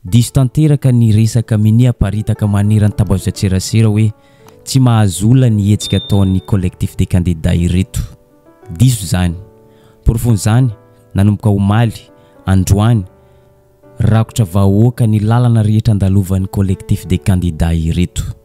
Diso tanteraka ny resaka minia aparitaka maneran'ny tambazotran-tserasera hoe tsy mahazo olona ny hetsika ataon'ny Collectif des candidats ireto. Diso izany. Porofon'izany, nanomboka omaly, androany, rakotra vahoaka ny lalana rehetra andalovan'ny Collectif des candidats ireto.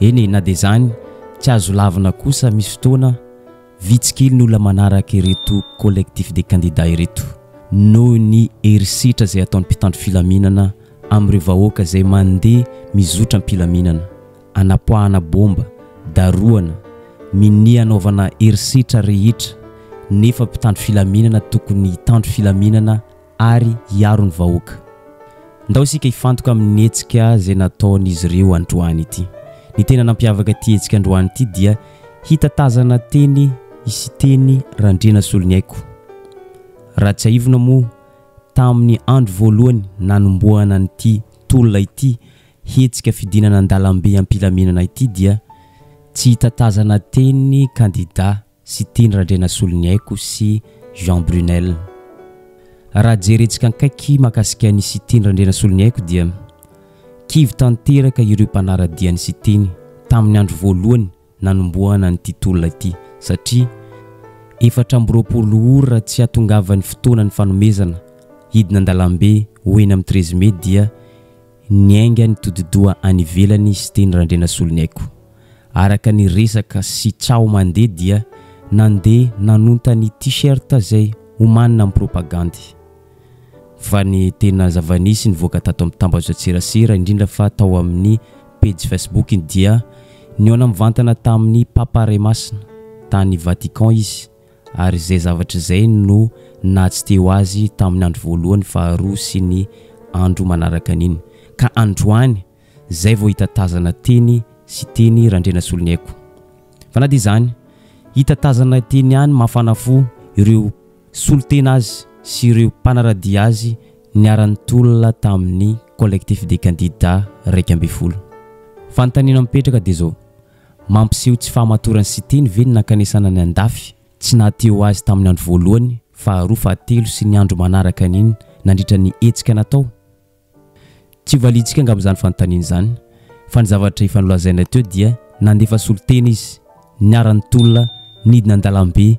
Eny e, na dia izany, tsy azo lavina kosa misy fotoana vitsy kely ny olona manaraka ireto collectif des candidats ireto noho ny herisetra izay ataon'ny mpitandro filaminana amin'ireo vahoaka izay mandeha mizotra am-pilaminana, anapoahana bomba, darohana, minia anaovana herisetra rehetra nefa mpitandro filaminana tokony hitandro filaminana ary hiaro ny vahoaka. Ndao isika hifantoka amin'ny hetsika izay nataon'izy ireo androany ity. Ny tena nampiavaka ity hetsika androany ity dia hita tazana teny i Siteny Randrianasoloniaiko. Raha tsiahivina moa tamin'ny andro voalohany nanombohana an'ity tolona ity hetsika fidinana an-dalambe am-pilaminana ity dia tsy hita tazana teny ny kandida sy Tiny Randrianasoloniaiko sy Jean Brunel. Raha jerentsika ankaiky mahakasika an'i sy Tiny Randrianasoloniaiko dia kivy tanteraka ireo mpanara-dia an'i sy Tiny tamin'ny andro voalohany nanombohana an'ity tolona ity satria efatra amby roapolo ora tsy hahatongavan'ny fotoana ny fanomezana hidina an-dalambe ho eny amin'ny treize mai dia Niainga nitodi-doha any ivelany Siteny Randrianasoloniaiko. Araka ny resaka sy tsaho mandeha dia nandeha nanonta ny T-shirt izay omanina amin'ny propagandy. Fa ny tena zava-nisy nivoaka tato amin'ny tambazotran-tserasera, indrindra fa tao amin'ny pejy Facebook-ny dia nihaona mivantana tamin'ny Papa Ray Masina, tany Vatican izy, ary izay zavatra izay no naha tsy teo azy tamin'ny andro voalohany, faharoa sy ny andro manaraka an'iny. Ka androany, izay vao hitatazana teny sy teny Randrianasoloniaiko. Fa na dia izany, hitatazana teny ihany mafana fo ireo solontena azy sy ireo mpanaradia azy niharan'ny tolona tamin'ny Collectif des candidats iraika ambin'ny folo. Fanontaniana mipetraka dia izao, Mampiseho tsy fahamatorany sy tiany ve ny nankanesana ny andafy? Tsy nahatia ho azy tamin'ny andro voalohany, faharoa, fahatelo sy ny andro manaraka an'iny nandritra ny hetsika natao? Tsy ho valiantsika angamba izany fanontaniana izany, fa ny zavatra efa nolazaina teo dia nandefa solontena izy, niara-nitolona, nidina an-dalambe,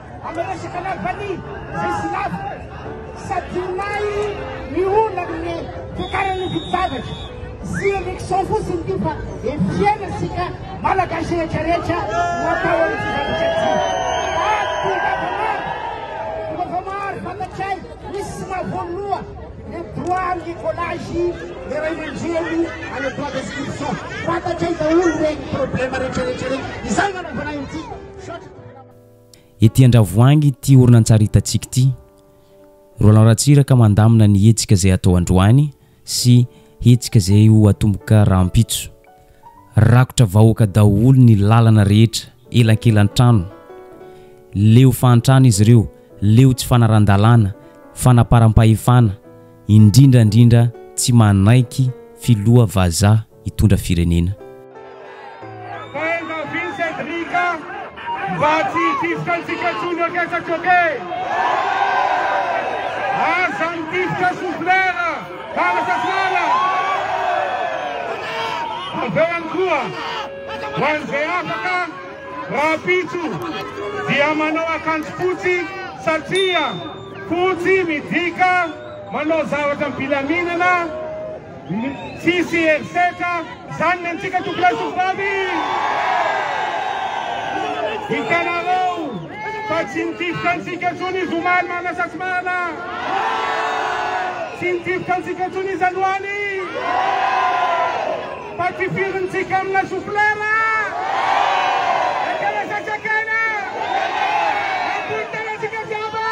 Amin'ny resaka lavanila izay silavo, Sadinay ny olona amin'ny fiakaran'ny vidin-javatra sy élection fotsiny ity fa efiera isika Malagasy rehetra rehetra no atao an'ity zavatra ity. Ato Vavamaro, Vavamaro fantatray misy mahavoaloha le droit ny collage le ray aman-dreny any droit d'inscription. Fantatray daholo ireny problème rehetra rehetra ireny. Izay no anaovanay an'ity. Ety Andravoahangy ity horonantsary hitantsika ity. Roland Ratsiraka mandamina ny hetsika izay hatao androany sy hetsika izay ho atomboka rahampitso. Rakotra vahoaka daholo ny lalana rehetra, elankelan-trano. Leo fahantrana izy ireo, leo tsy fanaran-dalàna, fanaparam-pahefana, indrindra indrindra tsy manaiky filoha vazaha. hitondra firenena. Fainga Vincent Rika mba tsy hitifitra antsika intsony ok sa tsy ok? Aza mitifitra souffleur Bala sa tsy bala? Avy eo ihany koa ho an'izay afaka rahampitso dia manao akanjo fotsy satria fotsy midika manao zavatra am-pilaminana, Tsisy herisetra zany ny antsika tomponay tovovavy! Hitanareo fa tsy nitifitra antsika tsony izy omaly manasatsimahala! Tsy nitifitra antsika tsony izy aloaly! Fa tifirintsika amina souflera! Ekena sa tsy ekena? Ampody tena antsika jiaby!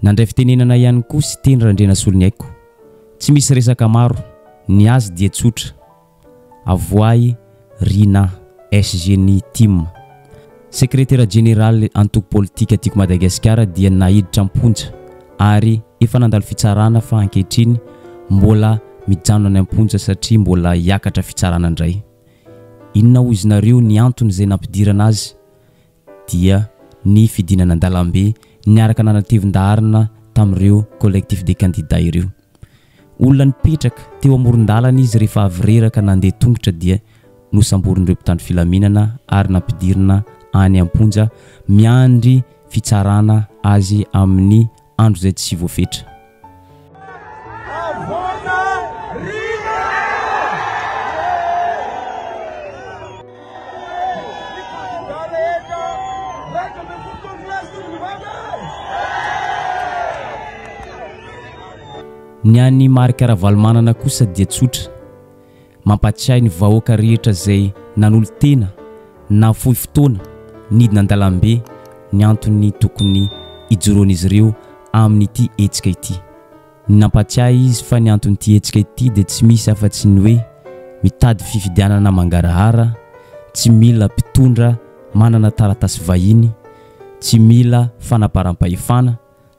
Nandray fitenenana ihany koa Siteny Randrianasoloniaiko. Tsy misy resaka maro, ny azy dia tsotra. Avoahy Rina, SG ny tim. Sekretera Jeneraly Antoko Politika Tiako Madagasikara dia naiditra am-ponja ary efa nandalo fitsarana fa ankehitriny mbola mijanona any am-ponja satria mbola hiakatra fitsarana indray. Inona hoy izy nareo ny antony izay nampidirana azy dia ny fidinana an-dalambe niaraka nanatevin-daharana tamin'ireo Collectif des candidats ireo. Olona nipetraka teo amoron-dalana izy rehefa avy reraka nandeha tongotra dia nosamborin'ireo mpitandro filaminana ary nampidirina any am-ponja miandry fitsarana azy amin'ny andro izay tsy voafetra. Ny an'i Marc Ravalomanana kosa dia tsotra. Mampatsiahy ny vahoaka rehetra izay nanolo-tena nahafoy fotoana nidina an-dalambe ny antony tokony hijoroan'izy ireo amin'ity hetsika ity. Nampatsiahy izy fa ny anton'ity hetsika ity dia tsy misy afa-tsy ny hoe mitady fifidianana mangarahara, tsy mila mpitondra manana taratasy vahiny, tsy mila fanaparam-pahefana,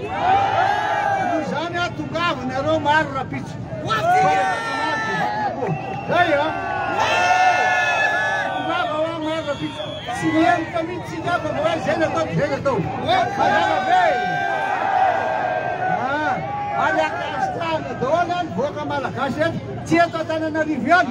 Noho izany aho tongava anareo maro rapitso. Tsy mihemoka mihitsy tsika fa voa izay natao dia izay natao. Mazava be. Ary akasitrahana daholo any voaka malagasy eto. Tsy eto Antananarivo ihany.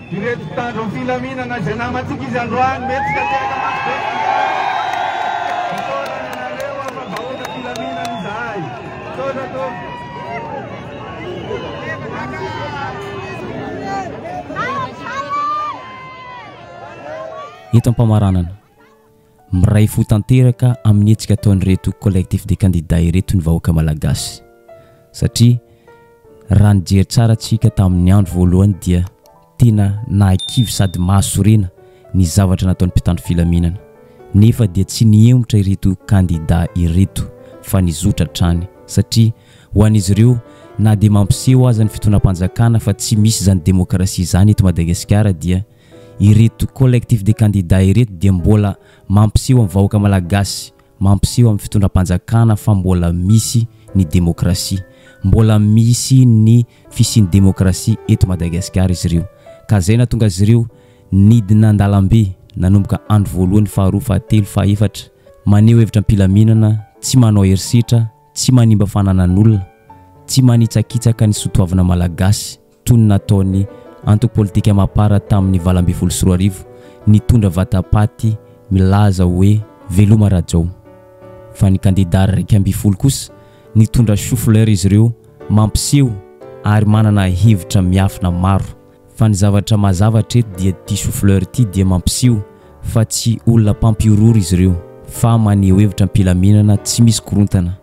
Ireto mpitandro ny filaminana izay namantsika izy androany mety ka te haka-maso be antsika. Misaotra ny anareo aho fa vahoaka filaminana izahay. Misaotra tompoko. Eto am-pamaranana. Miray fo tanteraka amin'ny hetsika ataon'ireto Collectif des candidats ireto ny vahoaka Malagasy satria raha nijery tsara tsika tamin'ny andro voalohany dia tena nahakivy sady mahasorena ny zavatra nataon'ny mpitandro filaminana nefa dia tsy nihemotra ireto candidats ireto fa nizotra hatrany satria ho an'izy ireo na dia mampiseho aza ny fitonam-panjakana fa tsy misy izany demokrasia izany eto Madagasikara dia Ireto collectif des candidats ireto dia mbola mampiseho amin'ny vahoaka malagasy, mampiseho amin'ny fitondram-panjakana fa mbola misy ny demokrasia, mbola misy ny fisian'ny demokrasia eto Madagasikara izy ireo. Ka izay nahatonga azy ireo nidina an-dalambe nanomboka andro voalohany, faharoa, fahatelo, fahefatra, maneho hevitra am-pilaminana, tsy manao herisetra, tsy manimba fananan'olona, tsy manitsakitsaka ny soatoavina malagasy. toy ny nataon'ny antoko politika Mapar tamin'ny valo ambin'ny folo sy roa arivo, nitondra vatapaty milaza hoe Veloma Rajao. Fa ny kandidà iraika ambin'ny folo kosa, nitondra choux-fleur izy ireo mampiseho ary manana hevitra miafina maro. Fa ny zavatra mazava hatreto dia ity choux-fleur ity dia mampiseho fa tsy olona mpampihorohoro izy ireo fa maneho hevitra am-pilaminana tsy misy korontana.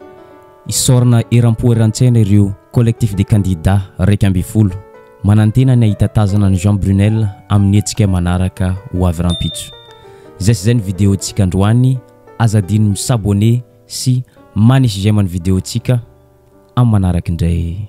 Hisaorana eram-po eran-tsaina ireo Collectif des candidats iraika ambin'ny folo, manantena ny hahita tazana an'i Jean Brunel amin'ny hetsika manaraka ho avy rahampitso. Izay sy izay ny videontsika androany, aza adino mi s'abonner sy manisy j'aime ny videontsika, amin'ny manaraka indray.